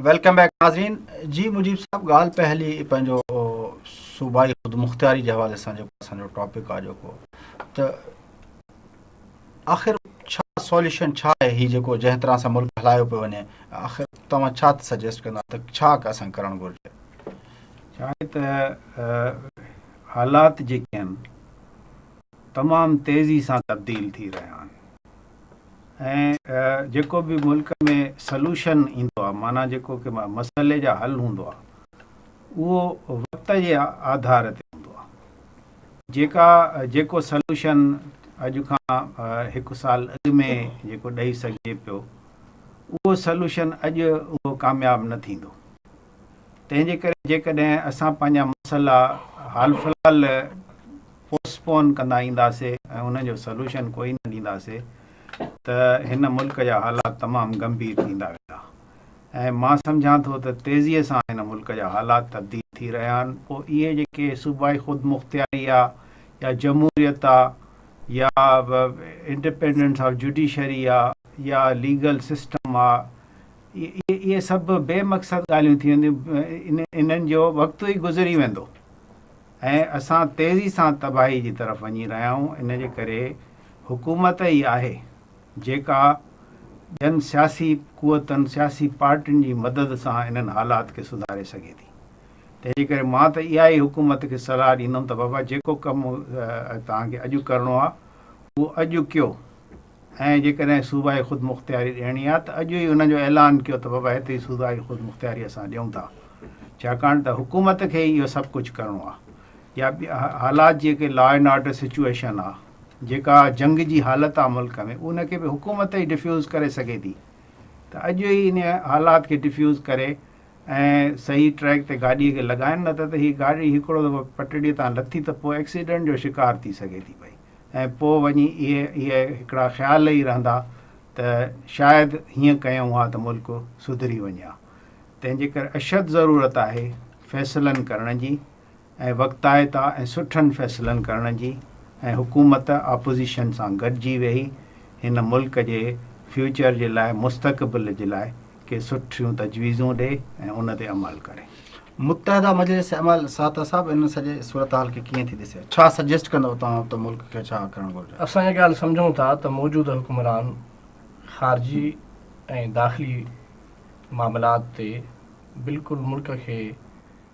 Welcome back ناظرين جي مجيب صاحب ڳالهه پئي هلي پنهنجو صوبائي خود مختياري جي حوالي سان جيڪو اسان جو ٽاپڪ آهي جيڪو ته آخر ڇا سوليوشن ڇا آهي هي جيڪو جنهن طرح سان ملڪ هلايو پيو وڃي آخر توهان ڇا سجيسٽ ڪندا ته ڇا اسان ڪرڻ گهرجي ڇا آهي ته حالات جيڪي آهن تمام تيزي سان تبديل ٿي رهيا آهن ۽ جيڪو به ملڪ ۾ سلوشن ايندو آهي معنيٰ جيڪو ڪي مسئلي جا حل هوندو آهي اهو وقت جي آڌار تي هوندو آهي جيڪا جيڪو سلوشن اڄ کان هڪ سال اڳ ۾ جيڪو ڏئي سگهجي پيو اهو سلوشن اڄ اهو ڪامياب نه ٿيندو تنهن جي ڪري جيڪڏهن اسان پنهنجا مسئلا حال فلحال پوسٽ پون ڪندا اينداسي ۽ انهن جو سلوشن ڪوئي نه ڏينداسي ته هن ملڪ جا حالات تمام گنڀير ٿيندا ويندا ۽ مان سمجهان ٿو ته تيزي سان هن ملڪ جا حالات تبديل ٿي رهيا آهن پوء اهي جيڪي صوبائي خودمختياري آ يا جمهوريت آ يا انڊپينڊنس آف جوڊيشري آ يا ليگل سسٽم آ اهي سڀ بي مقصد ڳالهيون ٿي وينديون، انهن جو وقت ئي گذري ويندو ۽ اسان تيزي سان تباهي جي طرف وڃي رهيا آهيون، ان جي ڪري حڪومت ئي آهي جيڪا ٻين سياسي قوتن، سياسي پارٽين جي مدد سان انهن حالات کي سڌاري سگهي ٿي، تنهن جي ڪري مان ته اها ئي حڪومت کي صلاح ڏيندم ته بابا جيڪو ڪم توهان کي اڄ ڪرڻو آهي اهو اڄ ڪيو. ۽ جيڪڏهن صوبائي خودمختياري ڏيڻي آهي ته اڄ ئي ان جو اعلان ڪيو ته بابا هتي ئي صوبائي خودمختياري اسان ڏيون ٿا ڇاڪاڻ ته حڪومت کي ئي اهو سڀ ڪجهه ڪرڻو آهي يا ٻيا حالات جيڪي لا اينڊ آرڊر سچوئيشن آهي جيڪا جنگ جي حالت آهي ملڪ ۾ ان کي به حڪومت ئي ڊفيوز ڪري سگهي ٿي ته اڄ ئي ان حالات کي ڊفيوز ڪري ۽ صحيح ٽريڪ تي گاڏي کي لڳائن نه ته ته هي گاڏي هڪڙو دفعو پٽڙي تان لٿي ته پوء ايڪسيڊنٽ جو شڪار ٿي سگهي ٿي پئي ۽ پوء وڃي اهي اهي هڪڙا خيال ئي رهندا ته شايد هيئن ڪيون ها ته ملڪ سڌري وڃي ها تنهن جي ڪري اشد ضرورت آهي فيصلن ڪرڻ جي ۽ وقتائتا ۽ سٺن فيصلن ڪرڻ جي ۽ حڪومت اپوزيشن سان گڏجي ويهي هن ملڪ جي فيوچر جي لاء مستقبل جي لاء ڪي سٺيون تجويزون ڏي ۽ ان تي عمل ڪري. متحده مجلس عمل ساهتر صاحب ان سڄي صورتحال کي ڪيئن ٿي ڏسي ڇا سجيسٽ ڪندو توهان ته ملڪ کي ڇا ڪرڻ گهرجي؟ اسان اها ڳالهه سمجهون ٿا ته موجوده حڪمران خارجي ۽ داخلي معاملات تي بلڪل ملڪ کي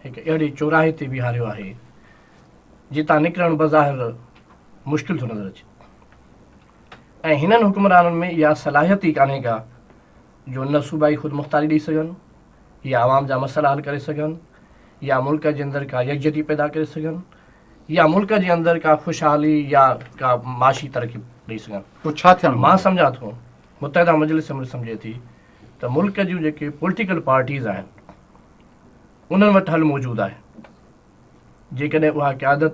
هڪ اهڙي چوراهي تي بيهاريو آهي، جتان نڪرڻ بظاهر مشڪل ٿو نظر اچي ۽ هنن حڪمرانن ۾ اها صلاحيت ئي ڪانهي ڪا جو نه صوبائي خودمختاري ڏئي سگهن يا عوام جا مسئلا حل ڪري سگهن يا ملڪ جي اندر ڪا يڪجهتي پيدا ڪري سگهن يا ملڪ جي اندر ڪا خوشحالي يا ڪا معاشي ترقي ڏئي سگهن پوء ڇا ٿيڻ مان سمجهان ٿو متحده مجلس عمل سمجهي ٿي ته ملڪ جون جيڪي پوليٽيڪل پارٽيز آهن انهن وٽ حل موجود آهي جيڪڏهن اها قيادت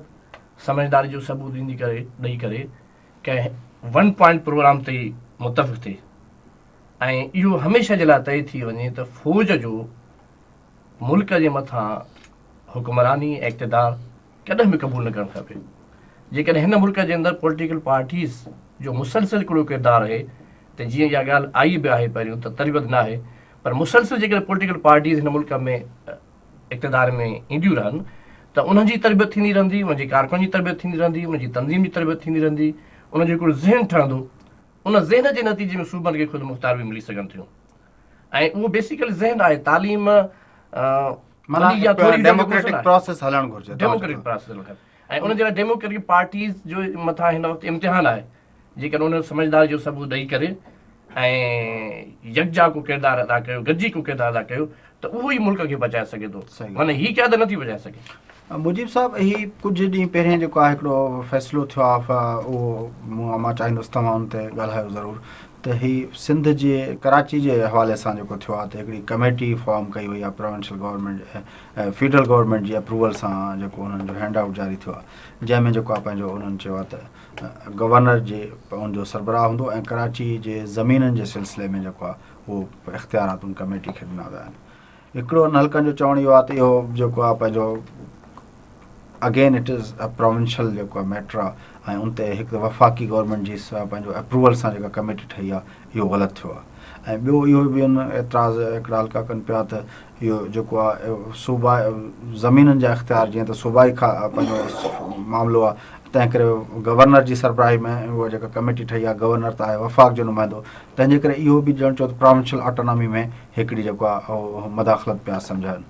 سمجهداري جو ثبوت ڏيندي ڪري ڏئي ڪري ڪنهن ون پوائنٽ پروگرام تي متفق ٿئي ۽ اهو هميشه جي لاء طئي ٿي وڃي ته فوج جو ملڪ جي مٿان حڪمراني اقتدار ڪڏهن به قبول نه ڪرڻ کپي. جيڪڏهن هن ملڪ جي اندر پوليٽيڪل پارٽيز جو مسلسل ڪڙو ڪردار رهي ته جيئن اها ڳالهه آئي به آهي پهريون ته تربيت ناهي پر مسلسل جيڪڏهن پوليٽيڪل پارٽيز هن ملڪ ۾ اقتدار ۾ اينديون رهن ته انهن جي تربيت ٿيندي رهندي، انهن جي ڪارڪنن جي تربيت ٿيندي رهندي، انهن جي تنظيم جي تربيت ٿيندي رهندي، انهن جو هڪڙو ذهن ٺهندو، ان ذهن جي نتيجي ۾ صوبن کي خودمختيار به ملي سگهن ٿيون ۽ اهو بيسيڪلي ذهن آهي تعليم معنيٰ هڪ ڊيموڪريٽڪ پراسيس هلڻ گهرجي. ڊيموڪريٽڪ پراسيس هلڻ کپي ۽ ان جي لاء ڊيموڪريٽڪ پارٽيز جو مٿان هن وقت امتحان آهي جيڪڏهن ان جو سمجهداري جو ثبوت ڏئي ڪري ۽ يڪجا ڪو ڪردار ادا ڪيو گڏجي ڪو ڪردار ادا ڪيو ته اهو ئي ملڪ کي بچائي سگهي ٿو معنيٰ هي قيادت نٿي بچائي سگهي. مجيب صاحب هي ڪجهه ڏينهن پهرين جيڪو آهي هڪڙو فيصلو ٿيو آهي اهو مون مان چاهيندس توهان ان تي ڳالهايو ضرور ته هي سنڌ جي ڪراچي جي حوالي سان جيڪو ٿيو آهي ته هڪڙي ڪميٽي فارم ڪئي وئي آهي پراونشل گورنمينٽ فيڊرل گورنمينٽ جي اپروول سان جيڪو انهن جو هينڊ آئوٽ جاري ٿيو آهي جنهن ۾ جيڪو آهي پنهنجو انهن چيو آهي ته گورنر جي ان جو سربراهه هوندو ۽ ڪراچي جي زمينن جي سلسلي ۾ جيڪو آهي اهو اختيارات ان ڪميٽي کي ڏنا ويا آهن هڪڙو انهن حلقن جو چوڻ اهو آهي ته اهو جيڪو آهي پنهنجو again it is a provincial جيڪو آهي ميٽر آهي ۽ ان تي هڪ وفاقي گورنمينٽ جي پنهنجو اپروول سان جيڪا ڪميٽي ٺهي آهي اهو غلط ٿيو آهي ۽ ٻيو اهو به ان اعتراض هڪڙا حلقا ڪن پيا ته اهو جيڪو آهي صوبا زمينن جا اختيار جيئن ته صوبائي کان پنهنجو معاملو آهي تنهن ڪري گورنر جي سربراهي ۾ اها جيڪا ڪميٽي ٺهي آهي گورنر ته آهي وفاق جو نمائندو تنهنجي ڪري اهو به ڄڻ چوت پراونشل آٽونامي ۾ هڪڙي جيڪو آ اهو مداخلت پيا سمجهائن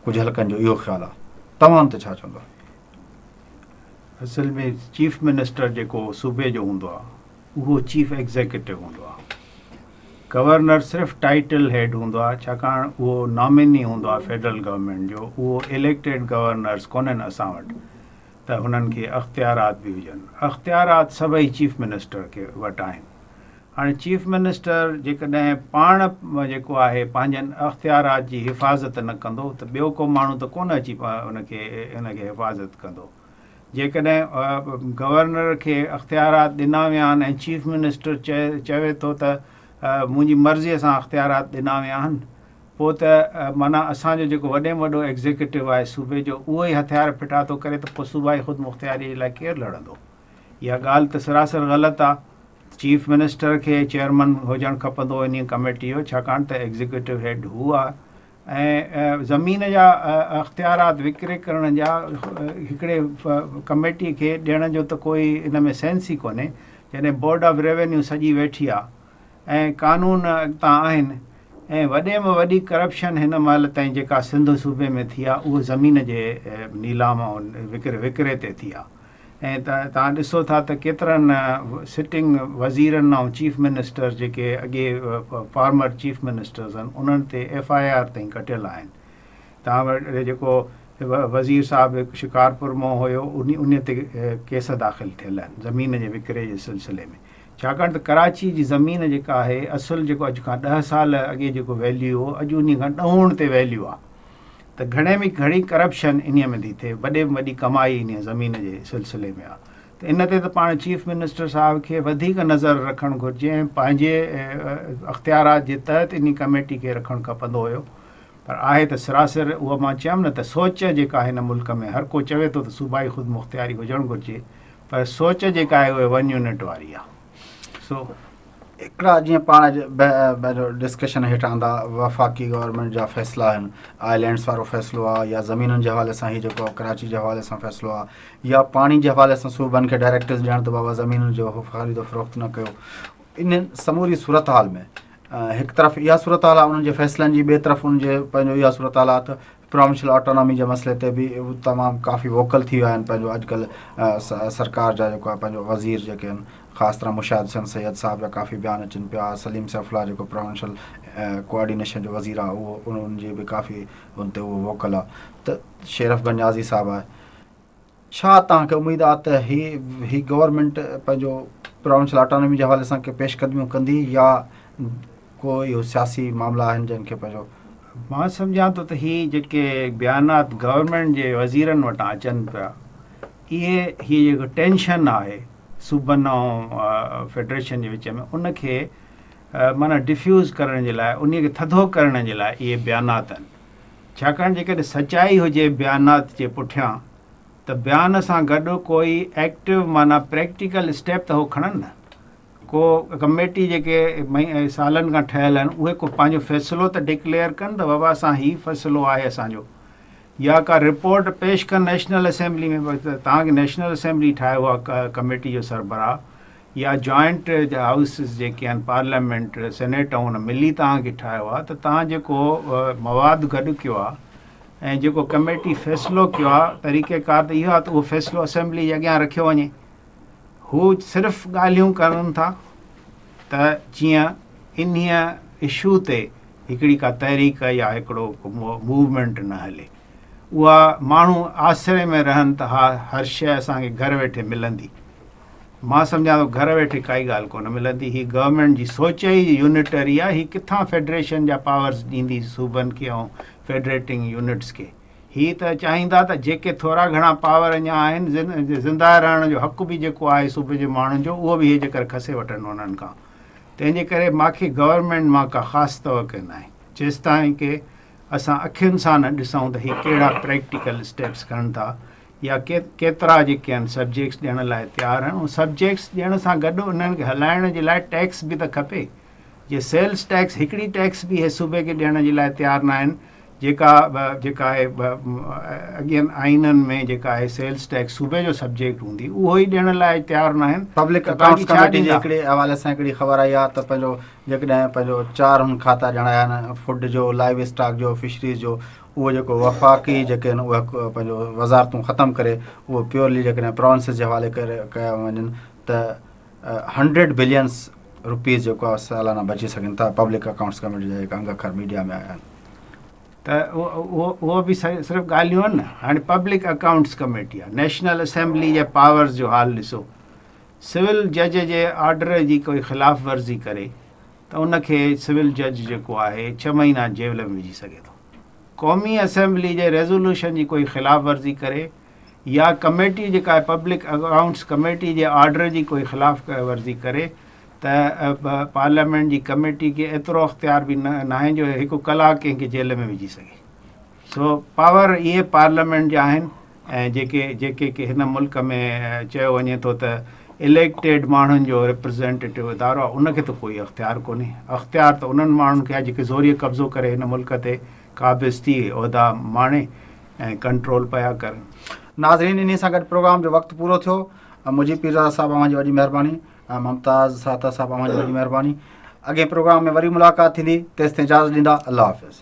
ڪجهه حلقن جو اهو خيال آ توهان تي ڇا چوندو. اصل ۾ چيف منسٽر جيڪو صوبي جو هوندو آ اهو چيف ايگزيڪيوٽو هوندو آ گورنر صرف ٽائيٽل هيڊ هوندو آ ڇاڪاڻ اهو ناميني هوندو آ فيڊرل گورنمينٽ جو اهو اليڪٽيڊ گورنرز ڪونهن اسان وٽ ته هنن کي اختيارات به هجن اختيارات سڀئي چيف منسٽر کي وٽ آهن هاڻي چيف منسٽر جيڪڏهن پاڻ جيڪو آهي پنهنجن اختيارات جي حفاظت نه ڪندو ته ٻيو ڪو ماڻهو ته ڪونه اچي ان کي ان کي حفاظت ڪندو. جيڪڏهن گورنر کي اختيارات ڏنا ويا آهن ۽ چيف منسٽر چوي ٿو ته منهنجي مرضي سان اختيارات ڏنا ويا آهن پوء ته معنيٰ اسان جو جيڪو وڏي ۾ وڏو ايگزيڪيوٽو آهي صوبي جو اهو ئي هٿيار ڦٽا ٿو ڪري ته پوء صوبائي خودمختياري جي لاء ڪير لڙندو؟ اها ڳالهه ته سراسر غلط آ ته چيف منسٽر کي چيئرمن هجڻ کپندو انهيء ڪميٽيء جو ڇاڪاڻ ته ايگزيڪيوٽو هيڊ هو آ ۽ زمين جا اختيارات وڪري ڪرڻ جا هڪڙي ڪميٽيء کي ڏيڻ جو ته ڪوئي ان ۾ سينس ئي ڪونهي جڏهن بورڊ آف ريونيو سڄي ويٺي آ ۽ قانون اڳتان آهن ۽ وڏي م وڏي ڪرپشن هن مهل تائين جيڪا سنڌ صوبي ۾ ٿي آ اهو زمين جي نيلام ۽ وڪري تي ٿي آ. ائين ته توهان ڏسو ٿا ته ڪيترن سٽنگ وزيرن ۽ چيف منسٽر جيڪي اڳي فارمر چيف منسٽرز آهن انهن تي ايف آء آر تائين ڪٽيل آهن توهان وٽ جيڪو وزير صاحب هڪ شڪارپور مان هيو ان تي ڪيس داخل ٿيل آهن زمين جي وڪري جي سلسلي ۾ ڇاڪاڻ ته ڪراچي جي زمين جيڪا آهي اصل جيڪو اڄ کان ڏهه سال اڳي جيڪو ويليو هو اڄ انهي کان ڏهون تي ويليو آهي ته گهڻي ۾ گهڻي ڪرپشن انهيء ۾ ٿي ٿئي، وڏي ۾ وڏي ڪمائي انهيء زمين جي سلسلي ۾ آ ته ان تي ته پاڻ چيف منسٽر صاحب کي وڌيڪ نظر رکڻ گهرجي ۽ پنهنجي اختيارات جي تحت انهي ڪميٽي کي رکڻ کپندو هيو پر آهي ته سراسر اها مان چيم نه ته سوچ جيڪا هن ملڪ ۾ هر ڪو چوي ٿو ته صوبائي خودمختياري هجڻ گهرجي پر سوچ جيڪا آهي اهي ون يونٽ واري آ. سو هڪڙا جيئن پاڻ ڊسڪشن هيٺ آندا وفاقي گورنمنٽ جا فيصلا آهن آئلينڊس وارو فيصلو آ يا زمينن جي حوالي سان هي جيڪو ڪراچي جي حوالي سان فيصلو آ يا پاڻي جي حوالي سان صوبن کي ڊائريڪٽرز ڏيڻ ته بابا زمينن جو خريد و فروخت نه ڪيو ان سموري صورتحال ۾ هڪ طرف اها صورتحال آ انهن جي فيصلن جي ٻي طرف ان جي پنهنجو اها صورتحال آ ته پروونشل آٽونامي جي مسئلي تي به تمام ڪافي ووڪل ٿي ويا آهن پنهنجو اڄڪلهه سرڪار جا جيڪو آهي پنهنجو وزير جيڪي آهن خاص طرح مشاهد حسين سيد صاحب جا ڪافي بيان اچن پيا سليم سيف الله جيڪو پروونشل ڪوآرڊينيشن جو وزير آهي اهو انهن جي به ڪافي ان تي اهو ووڪل آهي ته شيرف گنجازي صاحب آهي ڇا توهان کي اميد آ ته هي هي گورنمينٽ پنهنجو پراونشل آٽانومي جي حوالي سان ڪي پيش قدميون ڪندي يا ڪو اهو سياسي معاملا آهن جن کي پنهنجو مان سمجهان ٿو ته هي جيڪي بيانات گورنمينٽ جي وزيرن وٽان اچن پيا اهي هي جيڪو ٽينشن آهي صوبن ۽ فيڊريشن جي وچ ۾ ان کي معنيٰ ڊفيوز ڪرڻ جي لاء انهي کي ٿڌو ڪرڻ جي لاء اهي بيانات آهن ڇاڪاڻ جيڪڏهن سچائي هجي بيانات جي پٺيان ته بيان سان گڏ ڪو ئي ايڪٽيو معنيٰ پريڪٽيڪل اسٽيپ ته هو کڻن نه ڪو ڪميٽي جيڪي سالن کان ٺهيل آهن اهي ڪو پنهنجو فيصلو ته ڊڪليئر ڪن ته بابا اسان هي فيصلو آهي اسان جو يا ڪا رپورٽ پيش ڪن نيشنل اسيمبلي ۾ توهان کي نيشنل اسيمبلي ٺاهيو آهي ڪميٽي جو سربراهه يا جوائنٽ جا هائوسز جيڪي آهن پارليامينٽ سينيٽ ۽ ان ملي توهان کي ٺاهيو آهي ته توهان جيڪو مواد گڏ ڪيو آهي ۽ جيڪو ڪميٽي فيصلو ڪيو آهي طريقه ڪار ته اهو آهي ته اهو فيصلو اسيمبلي جي اڳيان رکيو وڃي هو صرف ڳالهيون ڪرن ٿا ته جيئن انهي اشو تي هڪڙي ڪا تحريڪ يا هڪڙو موومينٽ نه هلي اها ماڻهو آسري ۾ رهن ته ها هر شيء اسان کي گهر ويٺي ملندي مان سمجهان ٿو گهر ويٺي ڪائي ڳالهه ڪونه ملندي هي گورنمينٽ جي سوچ ئي يونٽري آ هي ڪٿان فيڊريشن جا پاورز ڏيندي صوبن کي ۽ فيڊريٽنگ يونٽس کي هي ته چاهيندا ته جيڪي ٿورا گهڻا پاور اڃا آهن زنده رهڻ جو حق به جيڪو آهي صوبي جي ماڻهن جو اهو به هي جيڪر کسي وٺن انهن کان تنهن جي ڪري ماکي گورنمينٽ مان ڪا خاص توقع ناهي جيستائين ڪي اسان اکين سان نه ڏسون ته هي ڪهڙا پريڪٽيڪل اسٽيپس کڻن ٿا يا ڪيترا جيڪي آهن سبجيڪٽس ڏيڻ لاء تيار آهن ۽ سبجيڪٽس ڏيڻ سان گڏ انهن کي هلائڻ جي لاء ٽيڪس به ته کپي جي سيلز ٽيڪس هڪڙي ٽيڪس به اهي صوبي کي ڏيڻ جي لاء تيار ناهن جيڪا جيڪا آهي اڳين آئينن ۾ جيڪا آهي سيلز ٽيڪس صوبي جو سبجيڪٽ هوندي اهو ئي ڏيڻ لاء تيار ناهن پبلڪ اڪائونٽس ڪميٽي جي هڪڙي حوالي سان هڪڙي خبر آئي آهي ته پنهنجو جيڪڏهن پنهنجو چار هن کاتا ڄاڻايا آهن فوڊ جو لائيو اسٽاڪ جو فشريز جو اهو جيڪو وفاقي جيڪي آهن اهي پنهنجو وزارتون ختم ڪري اهو پيورلي جيڪڏهن پراونسز جي حوالي ڪري ڪيا وڃن ته هنڊريڊ بلينس روپيز جيڪو آهي سالانه بچي سگهن ٿا پبلڪ اڪائونٽس ڪميٽي جا جيڪا انگ اکر ميڊيا ۾ آيا آهن ته اهو به صرف ڳالهيون آهن نه هاڻي پبلڪ اڪائونٽس ڪميٽي آهي نيشنل اسيمبلي جي پاورز جو حال ڏسو سول جج جي آرڊر جي ڪوئي خلاف ورزي ڪري ته ان کي سول جج جيڪو آهي ڇهه مهينا جيل ۾ وجهي سگهي ٿو. قومي اسيمبلي جي ريزولوشن جي ڪوئي خلاف ورزي ڪري يا ڪميٽي جيڪا آهي پبلڪ اڪائونٽس ڪميٽي جي آرڊر جي ڪوئي خلاف ورزي ڪري ته پارليامينٽ جي ڪميٽي کي ايترو اختيار به ناهي جو هڪ ڪلاڪ ڪنهن کي جيل ۾ وجهي سگهي. سو پاور اهي پارليامينٽ جا آهن ۽ جيڪي جيڪي ڪي هن ملڪ ۾ چيو وڃي ٿو ته اليڪٽيڊ ماڻهن جو ريپريزينٽيٽو ادارو آهي ان کي ته ڪوئي اختيار ڪونهي اختيار ته انهن ماڻهن کي آهي جيڪي زوريء قبضو ڪري هن ملڪ تي قابض ٿي عهدا ماڻي ۽ ڪنٽرول پيا ڪرن. ناظرين انهي سان گڏ پروگرام جو وقت پورو ٿيو مجيب پيرزاده صاحب اوهان جي وڏي مهرباني ممتاز ساهتر صاحب اوهان جي وڏي مهرباني اڳئين پروگرام ۾ وري ملاقات ٿيندي تيستائين اجازت ڏيندا الله حافظ.